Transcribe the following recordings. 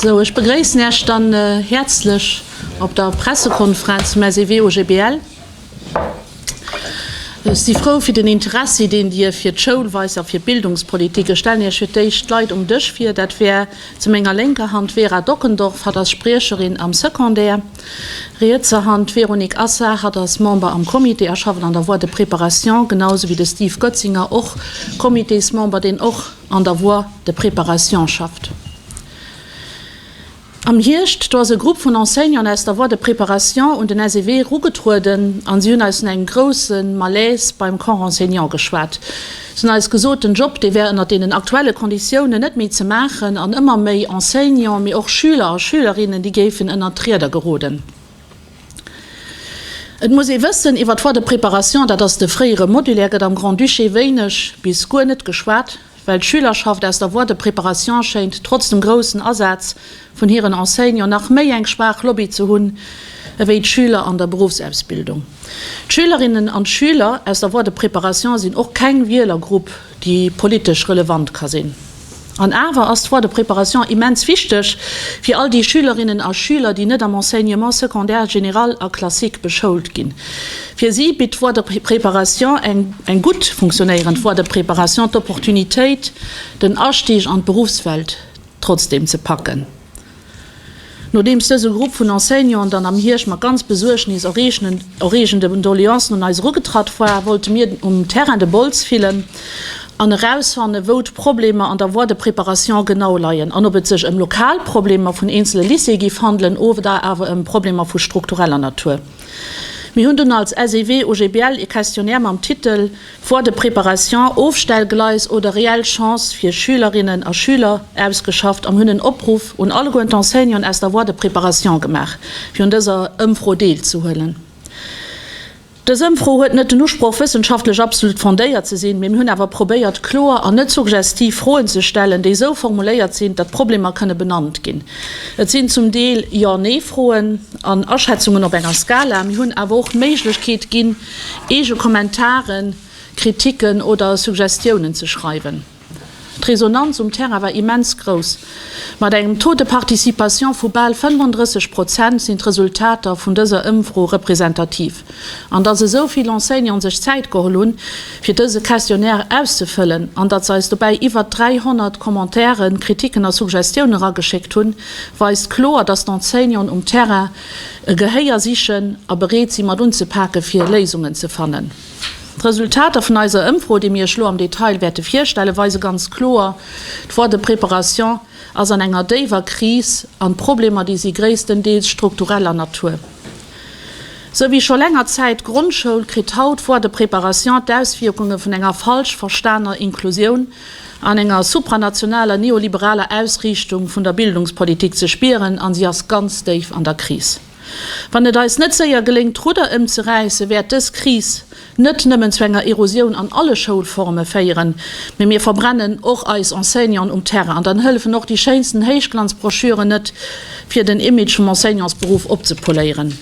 Sou, ech begréissen Iech dann häerzlech op der Pressekonferenz vum SEW-OGBL. Ech si frou fir den Interessi, deen Dir fir d'Schoul weist a fir d'Bildungspolitik. Ech stellen Iech fir d'éischt d'Leit um Dësch vir. Dat wär zu menger lénker Hand d'Vera Dockendorf, hatt ass Spriecherin am Secondaire. Rietser Hand, D'Véronique Assar, hatt ass Member am Comité a schafft an der Voie de préparation, genau sou wéi de Steve Goetzinger, och Comitésmember, deen och an der Voie de préparation schafft. Am Hierscht, do ass e Grupp vun Enseignanten aus der Voie de préparation un den SEW erugetrueden a si hunn eis vun engem grousse Malaise beim Corps enseignant geschwat. Se hunn eis gesot, den Job, dee wär ënnert deenen aktuelle Konditiounen net méi ze maachen an ëmmer méi Enseignants, mee och Schüler a Schülerinnen, déi géifen ënnert d'Rieder geroden. Et muss ee wëssen, iwwer d'Voie de préparation, dat ass de fréiere Modulaire, gëtt am Grand-Duché wéineg bis guer net geschwat, well d'Schülerschaft aus der Voie de préparation schéint, trotz dem groussen Asaz vun hiren Enseignants nach méi eng schwaach Lobby ze hunn ewéi d'Schüler an der Beruffsausbildung. D'Schülerinnen an d'Schüler aus der Voie de préparation sinn och keng Wielergrupp, déi politesch relevant ka sinn. An awer ass d'Voie de préparation immens wichteg fir all déi Schülerinnen a Schüler, déi net am Enseignement secondaire général a classique beschoult ginn. Fir si bitt d'Voie de préparation, eng gutt funktionéierend Voie de préparation, d'Opportunitéit, den Astieg an d'Beruffswelt trotzdeem ze packen. Nodeems dëse Grupp vun Enseignanten dann am Hierscht mat ganz besuergnis eregende Doleancen un eis erugetratt war, wollte mir um Terrain de Bols fillen an erausfannen, wou d'Problemer an der Voie de préparation genau leien an ob et sech ëm lokal Problemer vun eenzele Lycéeë giff handelen oder awer ëm Problemer vu struktureller Natur. Mir hunn dunn als SEW-OGBL ee Questionnaire mam Titel. Foire de préparation, Ofstellgleis oder reell Chance fir Schülerinnen a Schüler ausgeschafft an hunn en Opruff un alleguer d'Enseignanten aus der Voie de préparation gemaach, fir un dëser Ëmfro deelzehuelen. Dës Ëmfro huet net den Usproch, wëssenschaftlech absolut fondéiert ze sinn, mee mir hunn awer probéiert, kloer an net suggestiv Froen ze stellen, déi esou formuléiert sinn, datt Problemer kënne benannt ginn. Et sinn zum Deel Jo-Nee-Froen an Aschätzungen op enger Skala. Mir hunn awer och d'Méiglechkeet ginn, Eege Kommentaren, Kritiken oder Suggestiounen ze schreiwen. D'Resonanz um Terrain war immens grouss. Mat engem Taux de participation vu bal 35 Prozent sinn d'Resultater vun dëser Ëmfro representativ. An datt esou vill Enseignanten sech Zäit geholl hunn, fir dëse Questionnaire auszefëllen an datt se eis dobäi iwwert 300 Commentairen, Kritiken a Suggestioune rageschéckt hunn, weist kloer, datt d'Enseignanten um Terrain E Gehéier sichen a bereet si mat unzepake fir Léisungen ze fannen. D'Resultater vun eiser Ëmfro, déi mir Iech elo am Detail wäerte virstellen, weise ganz kloer, D'Voie de préparation ass an enger déiwer Kris an d'Problemer, déi si gréisstendeels struktureller Natur. Sou wéi scho länger Zäit d'Grondschoul, kritt haut d'Voie de préparation d'Auswierkunge vun enger falsch verstaner Inklusioun, an enger supranationaler neoliberaler Ausriichtung vun der Bildungspolitik ze spieren an si ass ganz déif an der Kris. Wann et eis net séier geléngt d'Rudder ëmzeräissen, wäert dës Kris net nëmmen zu enger Erosioun an alle Schoulforme féieren, mee mir verbrennen och eis Enseignanten um Terrain an dann hëllefen och déi schéinsten Héichglanzbroschüren net fir den Image vum Enseignantsberuff opzepoléieren.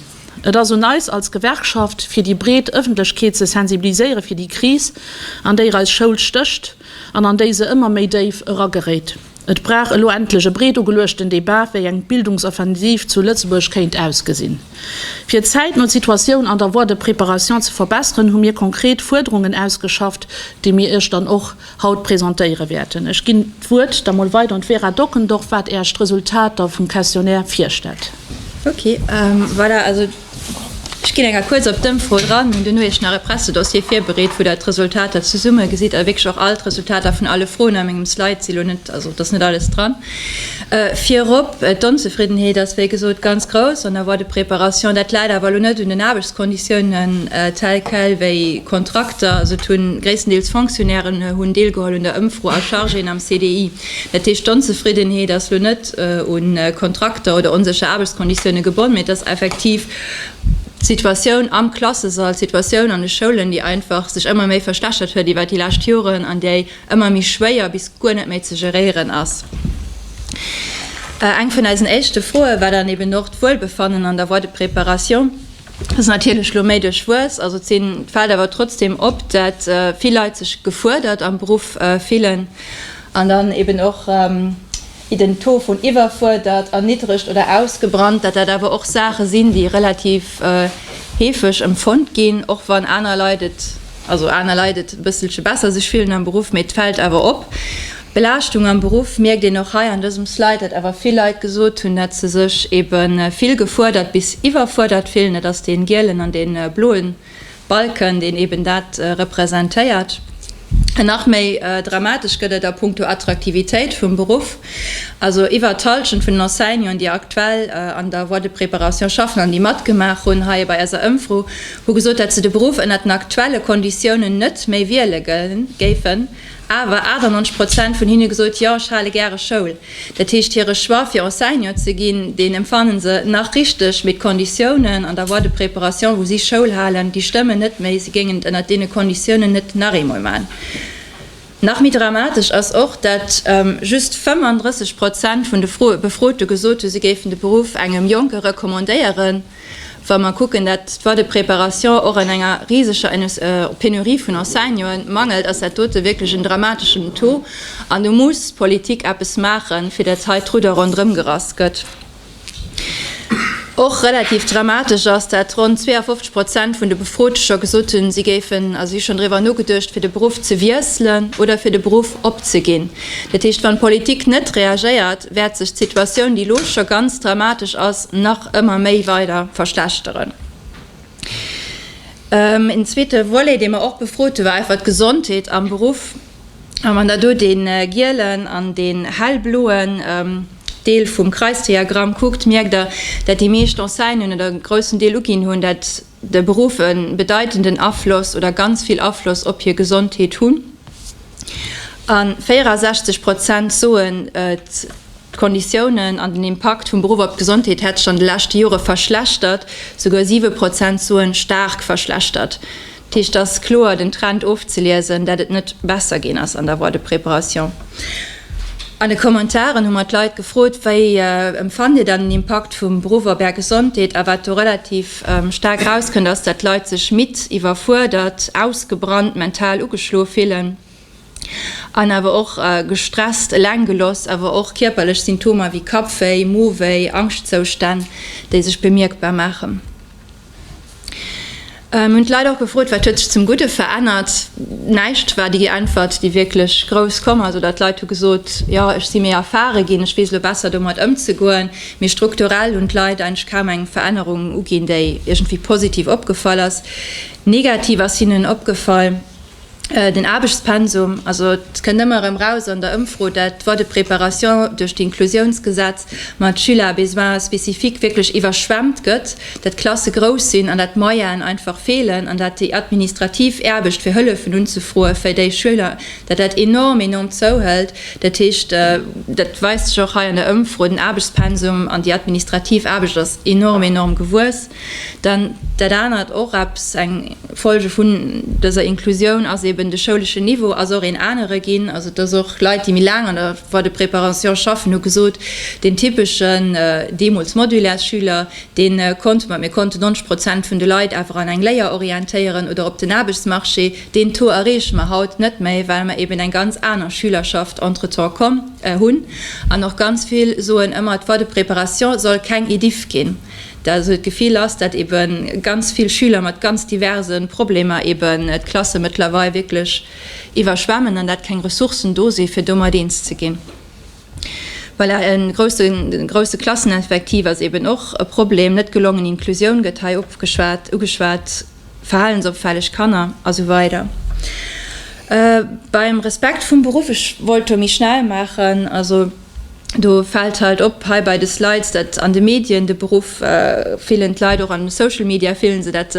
Et ass un eis als Gewerkschaft, fir déi breet Ëffentlechkeet ze sensibiliséiere fir déi Kris, an déier eis Schoul stécht an an déi se ëmmer méi déif erageréit. Et brauch elo endlech e breet ugeluechten Debat, wéi eng Bildungsoffensiv zu Lëtzebuerg kéint ausgesinn. Fir zäitno d'Situatioun an der Voie de préparation ze verbesseren, hu mir konkret Fuerderungen ausgeschafft, déi mir Iech dann och Haut presentéiere wäerten. Ech ginn d'Wuert da mol weider un d'Vera Dockendorf, wat Är d'Resultater vum Questionnaire virstellt. Ok, voilà, also ech ginn enger kuerz op d'Ëmfro dran. Mir hunn duerno Iech nach e Pressedossier virbereet, wou Der d'Resultater zesummegesit a wierklech och all d'Resultater vun alle Froen a mengem Slide si lo net, also et ass net alles dran. Virop, d'Onzefriddenheet ass wéi gesot ganz grouss an der Voie de préparation. Dat läit awer elo net un den Aarbechtskonditiounen tels quels, wéi Kontrakter, also et hu gréisstendeels Fonctionnairen hunn deelgeholl un der Ëmfro, a Chargéen am CDI. Dat heescht, d'Onzefriddenheet ass elo net u Kontrakter oder onsécher Aarbechtskonditioune gebonnen, mee et ass effektiv d'Situatioun am Klassesall, d'Situatioun an de Schoulen, déi einfach sech ëmmer méi verschlechtert huet iwwert déi lescht Joren an déi ëmmer méi schwéier bis guer net méi ze geréieren ass. Eng vun eisen éischte Froe war dann eben och d'Wuelbefannen an der Voie de préparation. Dat ass natierlech elo méi duerch Wues, also et fält awer trotzdeem op, dat vill Leit sech gefuerdert am Beruff fillen an dann eben och, déi den Taux vun iwwerfuerdert, erniddregt oder ausgebrannt, dat dat awer och Saache sinn, déi relativ heefeg empfonnt ginn, och wann aner Leit et, also aner Leit et e bësselche besser sech fillen am Beruff, mee et fält awer op. D'Belaaschtung am Beruff mierkt een och hei an dësem Slide, datt awer vill Leit gesot hunn, datt se sech ebe vill gefuerdert bis iwwerfuerdert fillen, dat ass dee gielen an dee bloe. Balken, deen eben dat representéiert. An nach méi dramatesch gëtt et a punkto Attraktivitéit vum Beruff. Also iwwert d'Hallschent vun den Enseignanten, déi aktuell an der Voie de préparation schaffen an déi matgemaach hunn hei bei eiser Ëmfro, hu gesot, datt se de Beruff ënner den aktuelle Konditiounen net méi wiele géifen. awer 98 Prozent vun hinne gesot, jo ech hale gäre Schoul. Dat heescht hire Choix fir Enseignant ze ginn, deen empfannen se nach richteg, mee d'Konditiounen an der Voie de préparation wou si Schoul halen, déi stëmmen net méi. Si géingen et ënnert deene Konditiounen net nach eemol man. Nach méi dramatesch ass och, dat just 35 Prozent vun de Befrote gesot hu si géifen de Beruff engem Jonke recommandéieren. Wa mer kucken, dat d'Voie de préparation och an enger riseger Penurie vun Enseignanten et mangelt, ass dat dote wierklech en dramateschen Taux. An do muss d'Politik eppes maachen, fir datt hei d'Rudder ronderëm gerass gëtt. Och relativ dramatesch ass, datt ronn 52 Prozent vun de Befrote scho gesot hunn, si géifen a si hu schonn driwwer nogeduecht, fir de Beruff ze wiesselen oder fir de Beruff opzeginn. Dat heescht, wann d'Politik net reagéiert, wäert sech d'Situatioun, déi elo scho ganz dramatesch ass, nach ëmmer méi weider verschlechteren. Een zweete Volet, dee mer och befrot hunn, war einfach d'Gesondheet am Beruff. A wann Der do dee gielen an dee hellbloen Deel vum Kreisdiagramm kuckt, mierkt Der, dat déi meescht Enseignen oder e groussen Deel uginn hunn, dat de Beruff e bedeitenden Afloss oder ganz vill Afloss op hir Gesondheet hunn, a 64 Prozent soen, d'Konditiounen an den Impakt vum Beruff op d'Gesondheet hätt sech an de leschte Jore verschlechtert, souguer 7 Prozent soen, staark verschlechtert. Dat heescht, et ass kloer den Trend ofzeliesen, dat et net besser ginn ass an der Voie de préparation. An de Kommentaren hu mer d'Leit gefrot, Wéi empfannt Dir dann den Impakt vum Beruff op Är Gesondheet? a wat do relativ. Staark erauskënnt, ass, datt d'Leit sech midd, iwwerfuerdert, ausgebrannt, mental ugeschloe fillen an awer och gestresst, eleng geloss, awer och kierperlech Symptomer wéi Kappwéi, Mowéi, Angschtzoustänn, déi sech bemierkbar maachen. Mir hunn d'Leit och gefrot, wat huet sech zum Gudde verännert. Näischt war déi Äntwert, déi wierklech grouss komm ass, oder d'Leit hu gesot, jo, ech si méi erfare ginn, ech weess elo besser domat ëmzegoen. Mee strukturell hunn d'Leit eigentlech kaum eng Verännerung uginn, déi iergendwéi positiv opgefall ass. Negativ ass hinnen opgefall den Aarbechtspensum. Also et kënnt ëmmer erëm raus an der Ëmfro, dat d'Voie de préparation duerch d'Inclusiounsgesetz mat Schüler à besoins spécifiques wierklech iwwerschwemmt gëtt, dat d'Klasse grouss sinn an dat d'Moyenen einfach feelen an dat déi administrativ Aarbecht fir Hëllefen unzefroe fir déi Schüler, dat dat enorm, enorm zouhëlt. Dat heescht, dat weist sech och hei an der Ëmfro, den Aarbechtspensum an déi administrativ Aarbecht ass enorm, enorm gewuess. Dann dat anert, och eppes, eng Folge vun dëser Inklusioun ass eeben, de schouleschen Niveau ass och een anere ginn. Also dass och Leit, déi méi laang an der Voie de préparation schaffen, hu gesot, deen typeschen, deemools modulaire, Schüler, dee konnte mer, mir konnten 90 Prozent vun de Leit awer an eng Léier orientéieren oder op den Aarbechtsmarché. Deen Taux erreeche mer haut net méi, well mer eben eng ganz aner Schülerschaft entretemps komm, äh, hunn. An och ganz vill soen ëmmer, d'Voie de préparation soll keng EDIFF ginn. Dat esou d'Gefill ass, dat ebe ganz vill Schüler mat ganz diverse Problemer eben d'Klasse mëttlerweil wierklech iwwerschwemmen an dat keng Ressourcen do si fir domat eens ze ginn. Voilà, e grousse, grousse Klasseneffektiv ass eben och e Problem. Net gelongen Inclusioun gëtt hei opgeschwat, ugeschwat. verhalensopfälleg Kanner a sou weider Beim Respekt vum Beruff, ech wollt do méi schnell maachen, also do fält halt op hei bei de Slides, datt an de Medien de Beruff, fillen d'Leit och an Social Media, fille se, datt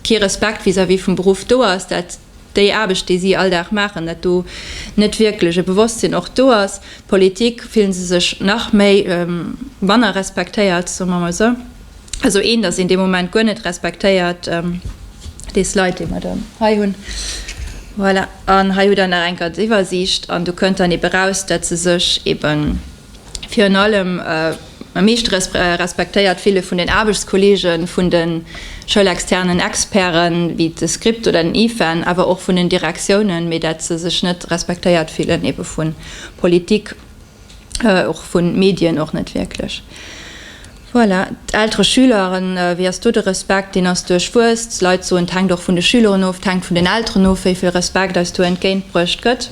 kee Respekt vis-à-vis vum Beruff do ass, datt déi Aarbecht, déi si all Dag maachen, datt do net wierklech e Bewosstsinn och do ass. D'Politik, fille se sech nach méi manner respektéiert, soe mer emol sou. esou een, datt een dee Moment guer net respektéiert, dee Slide, dee mer do hei hunn, voilà, an hei hutt Der nach eng ganz Iwwersiicht an do kënnt dann ebe raus, datt se sech ebe virun allem am meeschte respektéiert fille vun den Aarbechtskolleege vun de schoulexternen Experten, wéi de SCRIPT oder den IFEN, awer och vun den Direktiounen, mee datt se sech net respektéiert fillen ebe vu Politik, och vu Medien och net wierklech. Voilà, d'Eltere Schüleren, wéi ass do de Respekt? Deen ass duerchwuess. D'Leit soen, et hänkt och vun de Schüleren of, et hänkt vun den Elteren of, wéi vill Respekt eis do entgéint bruecht gëtt.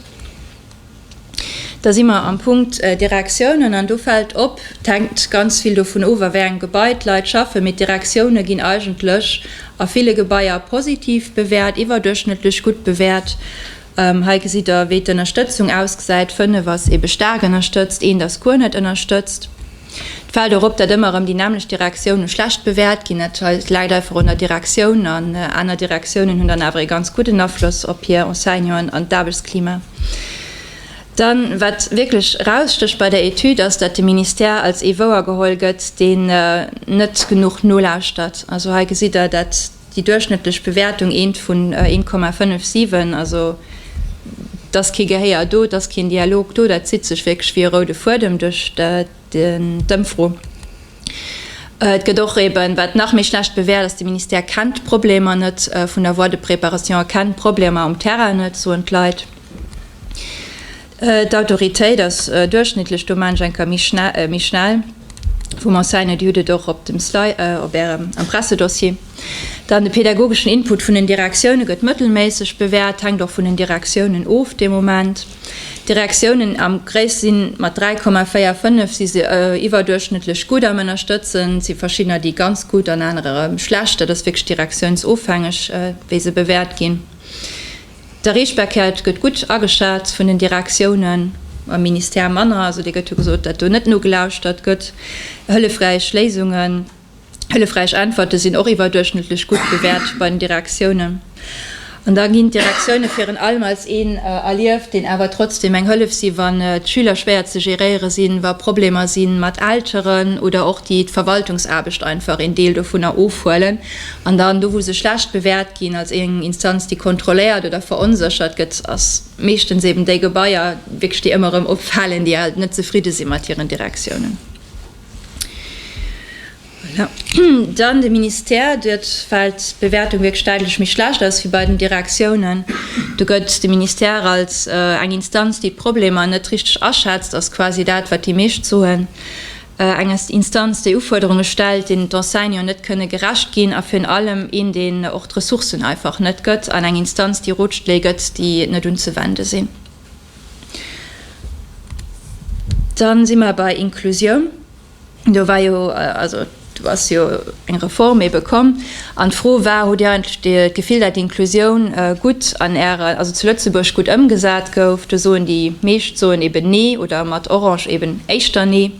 Da si mer am Punkt Direktiounen, an do fält op, et hänkt ganz vill dovun of, a wéi engem Gebai d'Leit schaffen, mee d'Direktioune ginn eigentlech a ville Gebaier positiv bewäert, iwwerduerchschnëttlech gutt bewäert. Hei gesitt der, wéi d'Ënnerstëtzung ausgesäit. Fënnef ass eebe staark ënnerstëtzt, eent ass guer net ënnerstëtzt. Et fält och op, datt ëmmer erëm déi nämmlecht Direktiounen schlecht bewäert ginn. Dat läit einfach un der Direktioun, an aner Direktiounen hunn dann awer ee ganz gudden Afloss op hir Enseignanten an d'Aarbechtsklima. Dann, wat wierklech erausstécht bei der Etüd, ass, datt de Ministère als ee wouergeholl gëtt, deen net genuch nolauschtert. Also hei gesitt der dat. Déi duerchschnëttlech Bewäertung eent vun 1,57, also dass kee Gehéier do, dass keen Dialog do, dat zitt sech wierklech wéi e roude Fuedem duerch d'Ëmfro. Et gëtt och eeben, wat nach méi schlecht bewäert ass, De Ministère kennt d'Problemer net vun der Voie de préparation a kennt d'Problemer um Terrain net, soen d'Leit. D'Autoritéit ass duerchschnittlech, do man ech enker méi schnell, vum Enseigne, Dir hutt et och op dem Sly, op Ärem Impressedossier. Dann de pädagogeschen Input vun den Direktiounen gëtt mëttelméisseg bewäert, hänkt och vun den Direktiounen of de Moment. D'Direktiounen am gréis si mat 3,45 si se iwwerduerchschnëttlech gutt am Ënnerstëtzen. Et si verschiddener, déi ganz gutt an anerer erëm schlecht. Dat ass wierklech direktiounsofhängeg, wéi se bewäert ginn. De Reespäckiert gëtt gutt ageschat vun den Direktiounen, beim Ministère manner, also dee gëtt jo gesot, datt do net nogelauschert gëtt. Hëllefräich Léisungen, hëllefräich Äntwerte sinn och iwwerduerchschnëttlech gutt bewäert bei den Direktiounen. An da ginn d'Direktioune virun allem als een erlieft, deen awer trotzdeem eng Hëllef si wann d'Schüler schwéier ze geréiere sinn, wa Problemer si mat Elteren oder och déi d'Verwaltungsaarbecht einfach een Deel dovunner ofhuelen. An dann do wou se schlecht bewäert ginn, als eng Instanz déi kontrolléiert oder veronséchert gëtt, ass meeschtens eben déi Gebaier wierklech déi ëmmer erëm opfalen, déi alt net zefridde si mat hiren Direktiounen. Voilà. Dann de Ministère, dort fält d'Bewäertung wierklech däitlech méi schlecht aus wéi bei den Direktiounen. Do gëtt de Ministère als eng Instanz déi d'Problemer net richteg aschätzt, ass quasi dat wat déi meescht soen. Eng Instanz, déi Ufuerderunge stellt, deenen d'Enseignanten net kënne gerecht ginn, a virun allem een, deen och d'Ressourcen einfach net gëtt, an eng Instanz, déi Rotschléi gëtt, déi net unzewende sinn. Da si mer bei Inklusioun. Do war jo, also do ass jo eng Reform ebe komm, An d'Fro war, Hutt Dir eigentlech d'Gefill, dat Inklusioun gutt an Äre, also zu Lëtzebuerg gutt ëmgesat gouf? Do soen déi meescht soen eben nee oder mat orange eben éischter nee.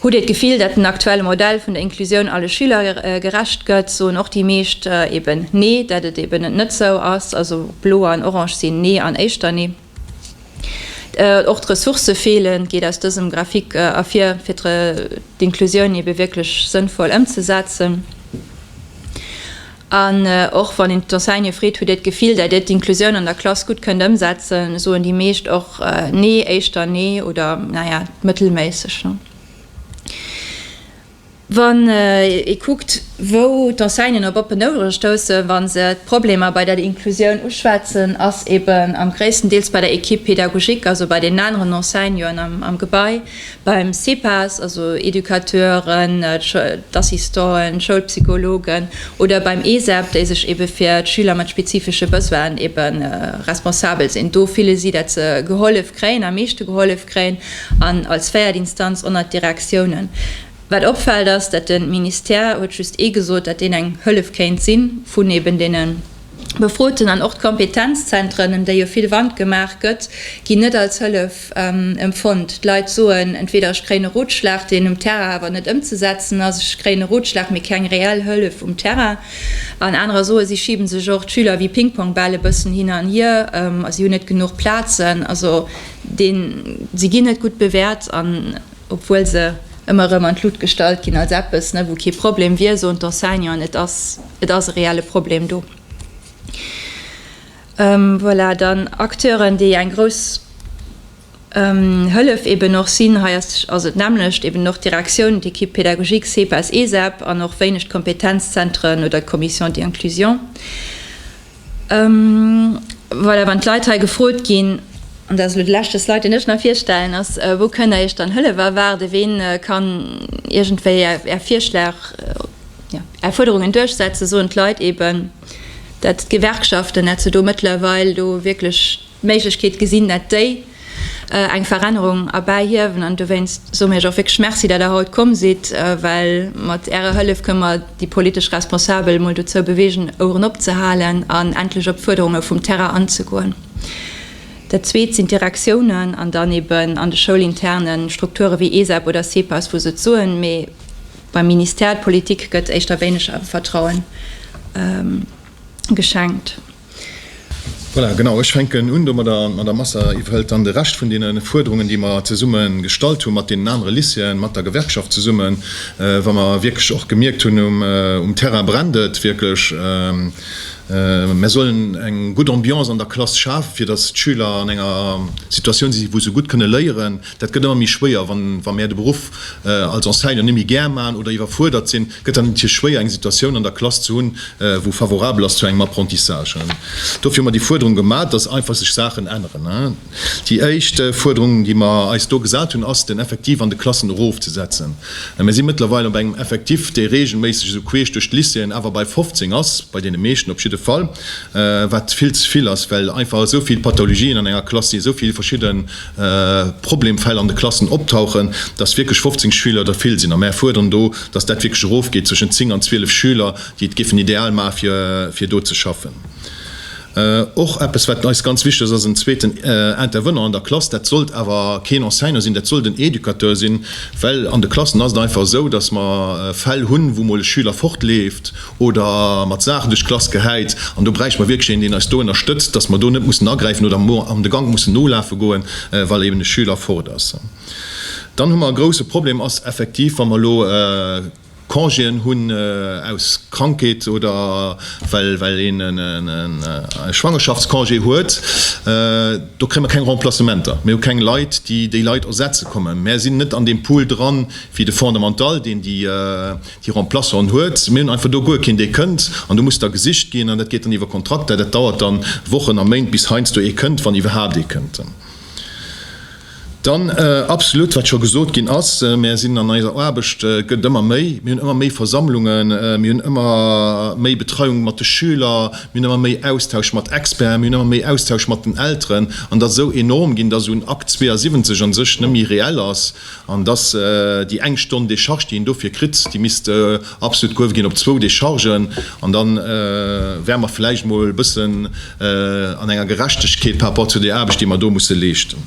Hutt Dir d'Gefill, dat den aktuelle Modell vun der Inklusioun alle Schüler gerecht gëtt? Soen och déi meescht eben nee, dat et eben net esou ass. Also blo an orange sinn nee an éischter nee. Och d'Ressourcë feelen, geet aus dësem Graphique ervir, fir d'Inclusioun ebe wierklech sënnvoll ëmzesetzen. An och wann een d'Enseigne freet, Hutt Dir d'Gefill, dat Dir d'Inclusioun an der Klass gutt kënnt ëmsetzen? soen déi meescht och nee, éischter nee oder naja, mëttelméisseg. Wann ee kuckt, wou d'Enseignen op oppen Ouere stoussen, wa se d'Problemer bei der Inklusioun uschwätzen, ass eben am gréissten Deels bei der Equipe pédagogique, also bei den aneren Enseignanten am Gebai, beim CPAS, also Educateuren, d'Assistanten, d'Schoulpsychologen, oder beim ESEB, déi sech ebe fir d'Schüler mat spezifesche Besoinen ebe responsabel sinn. Do fille si, datt se gehollef kréien, am meeschte gehollef kréien. an als véiert Instanz onnert d'Direktiounen. Wat opfällt ass, dat den Ministère huet just ee gesot, dat deen eng Hëllef kéint sinn vun eben deenen Befroten an och d'Kompetenzzentren, em déi jo vill Wand gemaach gëtt, ginn net als Hëllef empfonnt. D'Leit soen, entweder ech kréien e Rotschlag, deen um Terrain awer net ëmzesetzen ass, ech kréien e Rotschlag, mee keng reell Hëllef um Terrain. An anerer soe si schibe sech och d'Schüler wéi Pingpongbäll e bëssen hin an hier, a si hunn net genuch Plazen. Also Deen, si ginn net gutt bewäert, an obwuel se ëmmer erëm an d'Luucht gestallt ginn als eppes, wou kee Problem wier, soen d'Enseignanten, et ass, et ass e reelle Problem do. Voilà, dann Acteuren, déi eng grouss Hëllef eeben och sinn. Hei ass et d'nämmlecht, eeben och d'Direktioun, d'Équipe pédagogique, CEPAS, ESEB, an och wéineg d'Kompetenzzentren oder d'Commission d'inclusion. Voilà, wann d'Leit hei gefrot ginn, an dat ass elo de leschte Slide, deen ech nach virstellen, ass, Wou kënnt Der Iech dann Hëllef erwaarden? Ween kann iergendwéi Är Virschlag, jo, Är Fuerderungen duerchsetzen? Soen d'Leit eeben, dat d'Gewerkschaften, dat se do mëttlerweil do wierklech, Méiglechkeet gesinn, dat déi eng Verännerung erbäihiewen. An dowéinst soe mir Iech och wierklech Merci, dat Der haut komm sidd, well mat Ärer Hëllef kënne mer déi politesch Responsabel emol dozou beweegen, Oueren opzehalen an endlech op d'Fuerderunge vum Terrain anzegoen. Dat Zweet sinn d'Direktiounen an dann eeben an de schoulinterne Strukture wéi ESEP oder CEPAS, wou se et soen, mee beim Ministère, d'Politik gëtt éischter wéineg Vertrauen geschenkt. Voilà, genau, ech fänken un domadder. D'Madame Asser iwwerhëlt dann de Rescht vun deene Fuerderungen, déi mer zesumme gestallt hu mat deenen anere Lycéeën, mat der Gewerkschaft zesummen, wa mer wierklech och gemierkt hunn, um Terrain brennt et wierklech. Mer sollen eng gutt Ambiance an der Klass schafen, fir datt d'Schüler an enger Situatioun sinn, wou se gutt kënne léieren. Dat gëtt ëmmer méi schwéier, wa mer de Beruff als Enseignant net méi gär maachen oder iwwerfuerdert sinn. gëtt dann natierlech schwéier eng Situatioun an der Klass ze hunn, wou favorabel ass zu engem Apprentissage. Dofir hu mer déi Fuerderung gemaach, dass einfach sech Saachen änneren. Déi éischt Fuerderung, déi mer eis do gesat hunn, ass den Effectif an de Klassen erofzesetzen. Mir si mëttlerweil op engem Effectif, dee reegelméisseg esou queesch duerch d'Lycéeën awer bei 15 ass, bei deene meeschten op jidde Fall, wat vill ze vill ass, well einfach esou vill Pathologien an enger Klass sinn, esou vill verschidde. Problemfäll an de Klassen optauchen, dass wierklech 15 Schüler der vill sinn a mär fuerderen do, dass dat wierklech erofgeet zwëschen 10 an 12 Schüler, déi et géifen ideal maachen, fir, fir do ze schaffen. Och eppes, wat eis ganz wichtig ass, en zweeten Intervenant an der Klass. Dat sollt awer keen Enseignant sinn, dat sollt en Educateur sinn, well an de Klassen ass et einfach esou, dass mer Fäll hunn, wou emol e Schüler fortleeft oder mat Saachen duerch d'Klass gehäit, an do bräichte mer wierklech een, deen eis do ënnerstëtzt, dass mer do net mussen agräifen oder an de Gank mussen nolafe goen, well eben e Schüler fort ass. Dann hu mer e grouse Problem, ass effektiv, wa mer elo Congéen hunn aus Krankheet oder well een e Schwangerschaftscongé huet, do kréie mer keng Remplacementer. Mir hu keng Leit, déi déi Leit ersetze kommen. Mer sinn net an deem Pool dran, wéi de Fondamental, deen déi, Déi Remplaçanten huet. Mir hunn einfach do guer keen, dee kënnt. An do muss da gesicht ginn. An dat geet dann iwwer Kontrakter. Dat dauert dann Wochen a Méint, bis heiansdo ee kënnt, wann iwwerhaapt ee kënnt. Dann absolutt, wat scho gesot ginn ass, Mir sinn an eiser Aarbecht, gëtt ëmmer méi. Mir hunn ëmmer méi Versammlungen. Mir hunn ëmmer méi Betreiung mat de Schüler. Mir hunn ëmmer méi Austausch mat Experten. Mir hunn ëmmer méi Austausch mat den Elteren. An et ass esou enorm ginn, dass un Akt 72 a sech net méi reell ass. An dass déi eng Stonn Décharge, déi een dofir kritt, déi misst absolut gehuewe ginn op zwou Déchargen. An da wäre mer vläicht emol e bëssen an enger Gerechtegkeet par rapport zu där Aarbecht, déi mer do musse leeschten.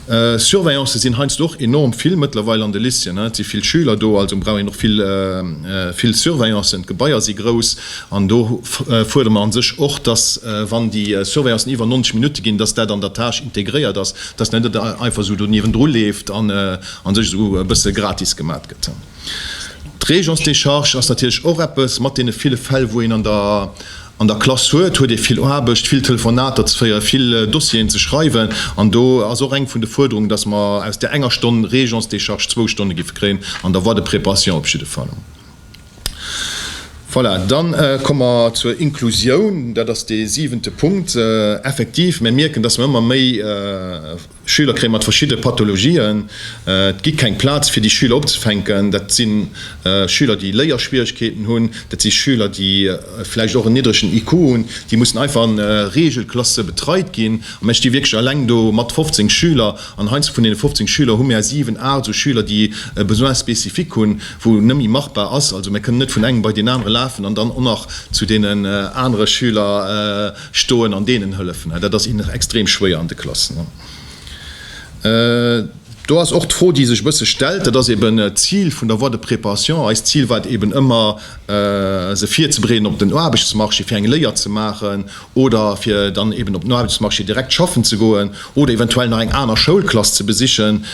Surveillantë sinn heiansdo och enorm vill mëttlerweil an de Lycéeën. Et si vill Schüler do, also brauch een och vill, vill Surveillanten. D'Gebaier si grouss an do fuerdere mer a sech och, dass, wann déi Surveillanten iwwer 90 Minutte ginn, dass dat an der Tâche integréiert ass. Dass net et einfach esou do niewendru leeft an a sech esou e bësse gratis gemat gëtt. D'Régence de charge ass natierlech och eppes. Mat deene ville Fäll, wou een an der an der Klass huet, huet ee vill Aarbecht, vill Telefonater ze féieren, vill Dossieren ze schreiwen. An do ass och eng vun de Fuerderungen, dass mer aus där enger Stonn Régence de charge zwou Stonne géife kréien, an der Voie de préparation op jidde Fall. Voilà, dann komme mer zur Inklusioun. Dat ass dee siwente Punkt. Effektiv, mir mierken, dass mer ëmmer méi Schüler kréie mat verschidde Pathologien. Et gi keng Plaz, fir déi Schüler opzefänken. Dat si Schüler, déi Léierschwierigkeeten hunn. Dat si Schüler, déi vläicht och en niddregen IQ hunn. Déi mussen einfach an Reegelklasse betreit ginn. Mä ech sti wierklech eleng do mat 15 Schüler. An heiansdo vun deene 15 Schüler hu mär 7, 8 esou Schüler, déi e Besoin spécifique hunn, wou net méi machbar ass. Also mär kënnen net vun engem bei deen anere lafen an dann och nach zu deenen anere Schüler stoen an deenen hëllefen. Dat ass innen extrem schwéier an de Klassen. Do ass och d'Fro, déi sech e bësse stellt, dat ass eeben d'Zil vun der Voie de préparation. Eist Zil war et eeben ëmmer, se virzebereeden op den Aarbechtsmarché, fir eng Léier ze maachen. oder fir dann eben op den Aarbechtsmarché direkt schaffen ze goen oder eventuell nach eng aner Schoulklass ze besichen.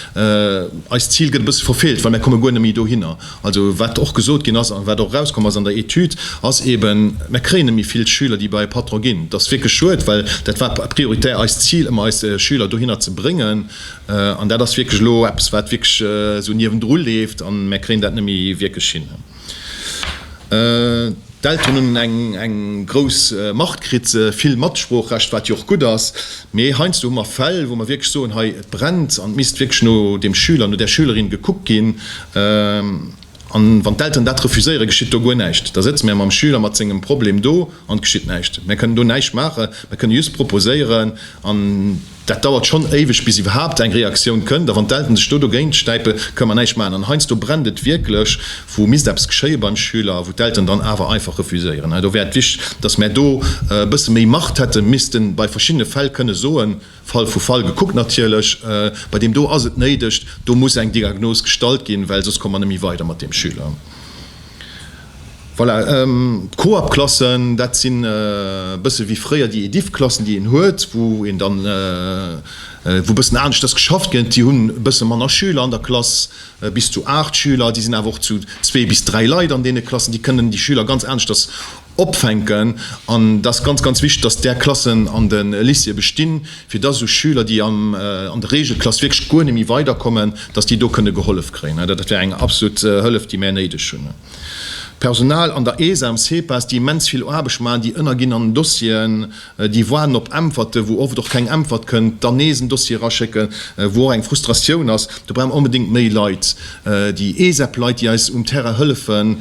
Eist Zil gëtt e bësse verfeelt, well mir komme guer net méi dohinner. Also wat och gesot ginn ass a wat och erauskomm ass an der Etüd, ass eben, mir kréien net méi vill Schüler, déi bei e Patron ginn. Dat ass wierklech schued, well dat war prioritär eist Zil, ëmmer eis Schüler dohinner ze bréngen. An dat ass wierklech elo eppes, wat wierklech esou niewendru leeft a mir kréien dat net méi wierklech hin. D'Elteren hunn eng eng grouss Macht kritt, vill Matsproochrecht, wat jo och gutt ass. Mee heiansdo hu mer Fäll, wou mer wierklech soen, hei, et brennt an et misst wierklech no deem Schüler, no där Schülerin gekuckt ginn. An wann d'Elteren dat refuséieren, geschitt do guer näischt. Da sëtze mär mam Schüler mat sengem Problem do an et geschitt näischt. Mär kënnen do näischt maachen. Mär kënnen just proposéieren an Dat dauert schonn éiweg bis iwwerhaapt eng Reaktioun kënnt, a wann d'Elten sech do dogéint stäipe kënn mer näischt maachen. An heiansdo brennt et wierklech, wou misst eppes geschéie beim Schüler, wou d'Elteren dann awer einfach refuséieren. Hei do wär et wichteg, datt mär do e bësse méi Macht hätten, missten bei verschiddene Fäll kënne soen, Fall vu Fall gekuckt natierlech, bei deem do ass et néideg, do muss eng Diagnos gestallt ginn, well soss komme mer net méi weider mat deem Schüler. Voilà, d'Coop-Klassen, dat sinn e bësse wéi fréier déi Ediff-Klassen, déi een huet, wou een dann, wou e bëssen aneschters geschafft gëtt. Déi hunn e bësse manner Schüler an der Klass, bis zu aacht Schüler. Déi sinn awer och zu zwee bis dräi Leit an deene Klassen. Déi kënnen déi Schüler ganz aneschters opfänken. An et ass ganz, ganz wichteg, dass där Klassen an de Lycéeë bestinn, fir dass esou Schüler, déi an der Reegelklass wierklech guer net méi weiderkommen, dass déi do kënne gehollef kréien. Dat wär eng absolut Hëllef, déi mär néideg hunn. D'Personal an der ESA, am CEPAS, déi immens vill Aarbecht maachen, déi ënnerginn an Dossieren, déi waarden op Äntwerte, wou oft och keng Äntwert kënnt, dann nees en Dossier eraschécken, wou och eng Frustratioun ass. Do brauche mer onbedéngt méi Leit, déi ESEP-Leit, déi eis um Terrain hëllefen.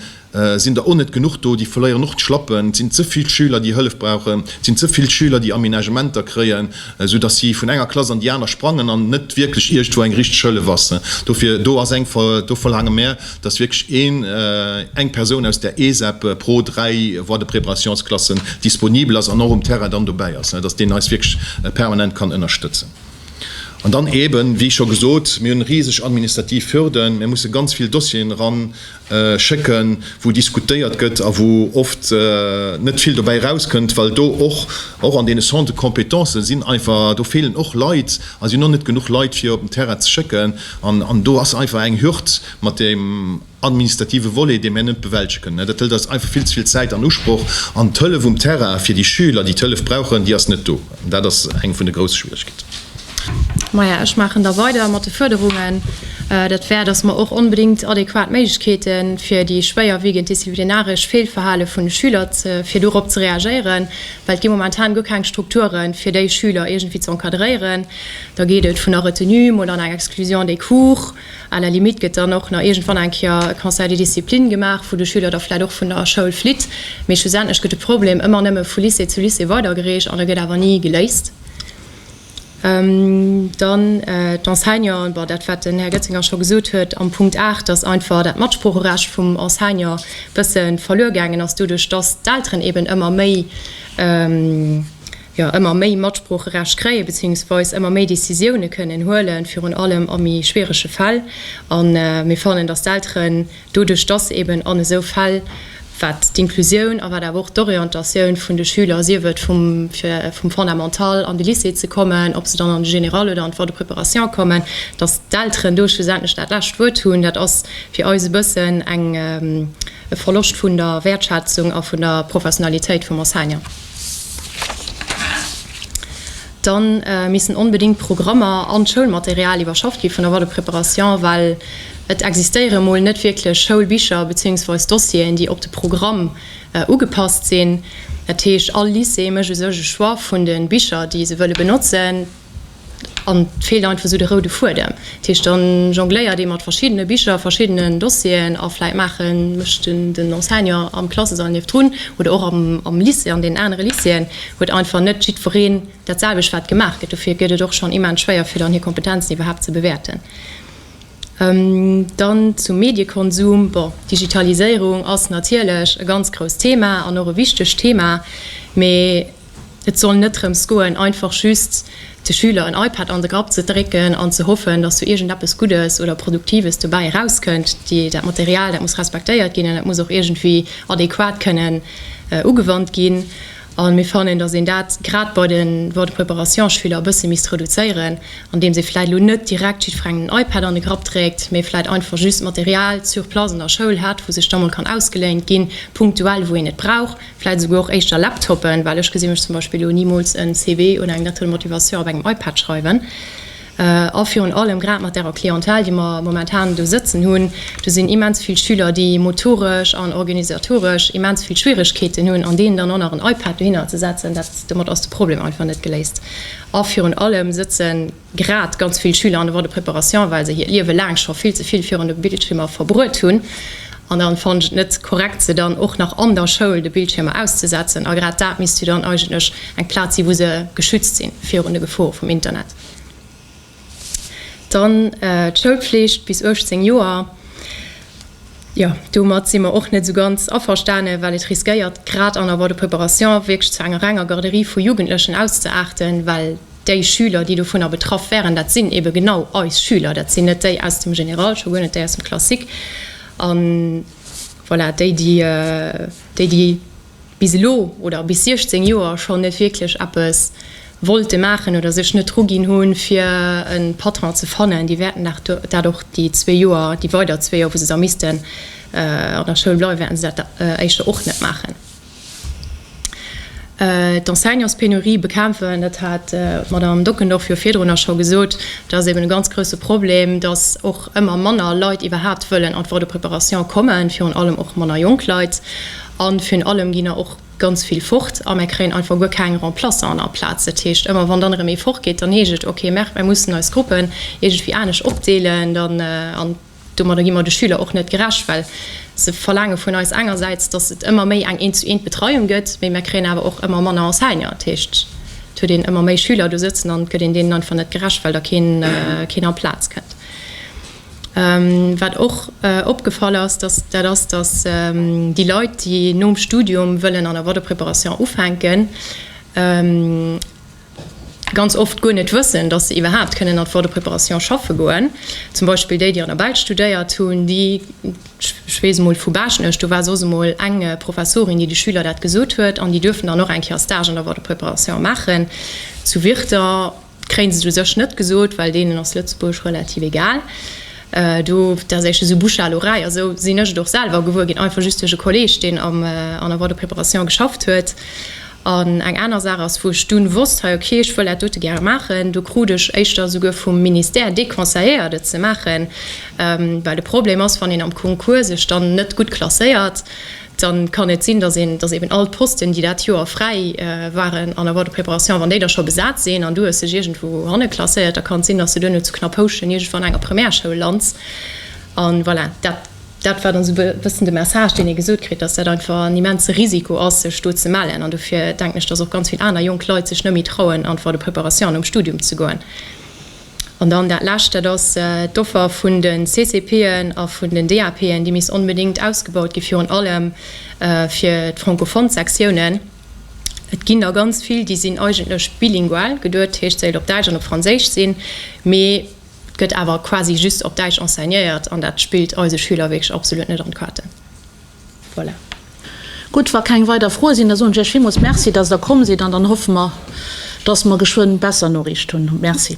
Sinn der o net genuch do, déi verléieren och d'Schlappen. Et sinn ze vill Schüler, déi Hëllef brauchen. Et sinn ze vill Schüler, déi Aménagementer kréien, esou datt si vun enger Klass an déi aner sprangen an net wierklech iergendwou eng richteg Hëllef ass. Dofir, do ass eng, do verlaange mär, datt wierklech een, eng Persoun aus der ESEP pro dräi Voies de préparationsclassen disponibel ass an och um Terrain dann dobäi ass, datt deen eis wierklech permanent kann ënnerstëtzen. An dann eeben, wéi scho gesot, mir hunn riseg administrativ Hürden, mir musse ganz vill Dossieren eran schécken, wou diskutéiert gëtt a wou oft net vill dobäi erauskënnt, well do och och an deene Centres compétences sinn einfach, do feelen och Leit a sinn och net genuch Leit fir op den Terrain ze schécken an do ass einfach eng Hürd mat deem administrative Volet, dee mir net bewältege kënnen. Dat hëlt eis einfach vill ze vill Zäit an Usproch an d'Hëllef um Terrain fir déi Schüler, déi d'Hëllef brauchen, déi ass net do. Dat ass eng vun de grousse Schwieregkeeten. Maja, ech maachen da weider mat de Fuerderungen. Dat wär, dass mer och onbedéngt adequat Méiglechkeete fir déi schwéierwiegend disziplinaresch Feelverhale vun de Schüler, fir dorop ze reagéieren, well et gi momentan guer keng Strukture fir déi Schüler iergendwéi ze encadréieren. Da geet et vun der Retenue, mol an eng Exclusion des cours, à la limite gëtt dann och nach iergendwann eng Kéier e Conseil de discipline gemaach, wou de Schüler da vläicht och vun der Schoul flitt. Mee schlussendlech gëtt de Problem ëmmer nëmme vu Lycée zu Lycée weidergereecht an e gëtt awer ni geléist. Dann d'Enseignanten, bon dat, wat den Här Götzinger scho gesot huet am Punkt 8, dass einfach dat Matsproocherecht vum Enseignant e bësse verluer gaangen ass doduerch, dass d'Elteren eeben ëmmer méi, jo ëmmer méi Matsproocherecht kréien, beziehungsweis ëmmer méi Décisiounen kënnen huelen, virun allem a méi schwierege Fäll. An mir fannen, dass d'Elteren, Doduerch dass eben an esou Fäll, wat d'Inclusioun a wat awer och d'Orientatioun vun de Schüler, sief et vum fir vum Fondamental an de Lycée ze kommen, ob se dann an de Général oder an d'Voie de préparation kommen, dass d'Elteren do schlussendlech dat lescht Wuert hunn, dat ass fir eis e bëssen eng e Verloscht vun der Wäertschätzung a vun der Professionalitéit vum Enseignant. Dann missten onbedingt d'Programmer an d'Schoulmaterial iwwerschafft gi vun der Voie de préparation, well et existéieren emol net wierklech Schoulbicher beziehungsweis Dossieren, déi op de Programm ugepasst sinn. Dat heescht, all Lycée mécht u sech e Choix vun de Bicher, déi se wëlle benotzen, an et feelt einfach esou de roude Fuedem. Tisch, dann jongléiert ee mat verschiddene Bicher, verschiddenen Dossieren a vläit maachen, mécht den Enseignant am Klassesall niefdrun oder och am Lycée, an deenen anere Lycéeën huet einfach net jiddwereen dat selwecht wat gemaach gëtt. Dofir gëtt et och schonn immens schwéier fir dann hir Kompetenzen iwwerhaapt ze bewäerten. Dann zum Mediekonsum, bon, d'Digitaliséierung ass natierlech e ganz grousst Thema an och e wichtegt Thema, mee, Et soll net drëms goen, einfach just de Schüler en iPad an de Grapp ze drécken an ze hoffen, dass do iergendeppes Guddes oder Produktives dobäi erauskënnt. Dat Material, dat muss respektéiert ginn an dat muss och iergendwéi adequat kënnen ugewannt ginn. A mir fannen, dass een dat grad bei de Voie de préparation-Schüler e bësse misst reduzéieren, andeems ee vläicht elo net direkt jiddwerengem den iPad an de Grapp dréckt, mee vläicht einfach just d'Material sur place an der Schoul hätt, wou sech da mol kann ausgeléint ginn, punktuell, wou een et brauch. vläit esouguer och éischter Laptoppen, well ech gesi mech zum Beispill elo nimools en CV oder eng Lettre de motivation op engem iPad schreiwen. A virun allem grad mat der Clientèle, déi mer momentan do sëtzen hunn, do sinn immens vill Schüler, déi motoresch an organisatoresch immens vill Schwierigkeeten hunn an deenen dann och nach en iPad dohinner ze setzen, dat domat ass de Problem einfach net geléist. A virun allem sëtzen. grad ganz vill Schüler an de Woies de préparation, well se hiert Liewe laang scho vill ze vill virun de Bildschiermer verbruet hunn. An dann fannen ech et net korrekt, se dann och nach an der Schoul de Bildschiermer auszesetzen. A grad dat misst jo dann eigentlech eng Plaz sinn, wou se geschützt sinn virun de Gefore vum Internet. Dann d'Schoulflicht bis 18 Joer. Jo, domat si mer och net esou ganz averstane, well et riskéiert, grad an der Woies de préparation, wierklech zu enger renger Garderie vu Jugendlechen auszeaarten, well Déi Schüler, déi dovunner betraff wären, dat sinn ebe genau eis Schüler. Dat sinn net déi aus dem Général, scho guer net déi aus dem Classique. A voilà, déi, déi, déi bis elo oder bis 16 Joer schonn net wierklech eppes wollte maachen oder sech net druginn hu fir e Patron ze fannen, déi wäerten dat och déi zwee Joer, déi weider zwee Joer, wou se da missten an der Schoul bleiwen, wäerten se dat éischter och net maachen. D'Enseignantspenurie bekämpfen, dat hat d'Madame Dockendorf jo virdrun nach scho gesot, dat ass eeben e ganz grouse Problem, datt och ëmmer manner Leit iwwerhaapt wëllen an d'Voie de préparation kommen, virun allem och manner jonk Leit. A virun allem ginn der och ganz vill fort a mir kréien einfach guer keng Remplaçanten aplaz. Dat heescht, ëmmer wann dann erëm ee fortgeet, dann heescht et, ok, mer mussen eis Gruppen iergendwéi anescht opdeelen an Domadder gi mer de Schüler och net gerecht, well se verlaange vun eis engersäits, datt et ëmmer méi eng Eent-zu-eent-Betreiung gëtt, mee mir kréien awer och ëmmer manner Enseignant. Dat heescht, et huet een ëmmer méi Schüler do sëtzen an et gëtt een deenen einfach net gerecht, well da keen amplaz kënnt. Wat och opgefall ass, dat ass, datt déi Leit, déi nom Studium wëllen an der Waterpreparation ufänken, ganz oft guer net wëssen, dass se iwwerhaapt kënnen an d'Voie de préparation schaffe goen, zum Beispill déi, déi an der Belsch studéiert hunn, déi, ech weess emol vu Baaschtnech, do war soss emol eng Professorin, déi de Schüler dat gesot huet, an déi duerfen dann och eng Kéier Stage an der Voie de préparation maachen zu Wirter, kréien se et u sech net gesot, well deenen ass Lëtzebuerg relativ egal. Do, dat ass echt esou bouche à l'oreille, a sou sinn ech et och selwer gewuer ginn, einfach just duerch e Kolleeg, deen an der Voie de préparation geschafft huet. An eng aner Saach ass, wou ech dunn wosst, hei ok, ech wëll dat dote gäre maachen, do krut ech éischter esouguer vum Ministère déconseilléiert et ze maachen, well de Problem ass, wann een am Concours sech dann net gutt klasséiert, da kann et sinn, datt een, datt eben all d'Posten, déi dat Joer fräi waren an der Voie de préparation, wann déi da scho besat sinn an du hues dech iergendwou hanne klasséiert, da kann et sinn, datt s de duerno zu Knappouschen iergendwo an enger Primärschoul lands. An voilà, dat. Dat war dann esou e bëssen de Message, deen ee gesot kritt, dass dat einfach en immense Risiko ass, sech do ze mellen. An dofir denken ech, dass och ganz vill aner jonk Leit sech net méi trauen, an d'Voie de préparation an um Studium ze goen. An dann dat Lescht, dat ass d'Offer vun de CCPen a vun den DAPen. Déi misst onbedéngt ausgebaut ginn, virun allem fir d'francophone Sektiounen. Et ginn der ganz vill, déi sinn eigentlech bilingual geduet, dat heescht, se wéilt op Däitsch an op Franséisch sinn, mee, Et gëtt awer quasi just op Däitsch enseignéiert an dat spillt eise Schüler wierklech absolut net an d'Kaarten. Voilà. Gutt, wa keng weider Froe sinn, da soen ech Iech villmools Merci, datt Der komm sidd an dann hoffe mer, datt mer geschwënn besser Noriicht hunn. Merci.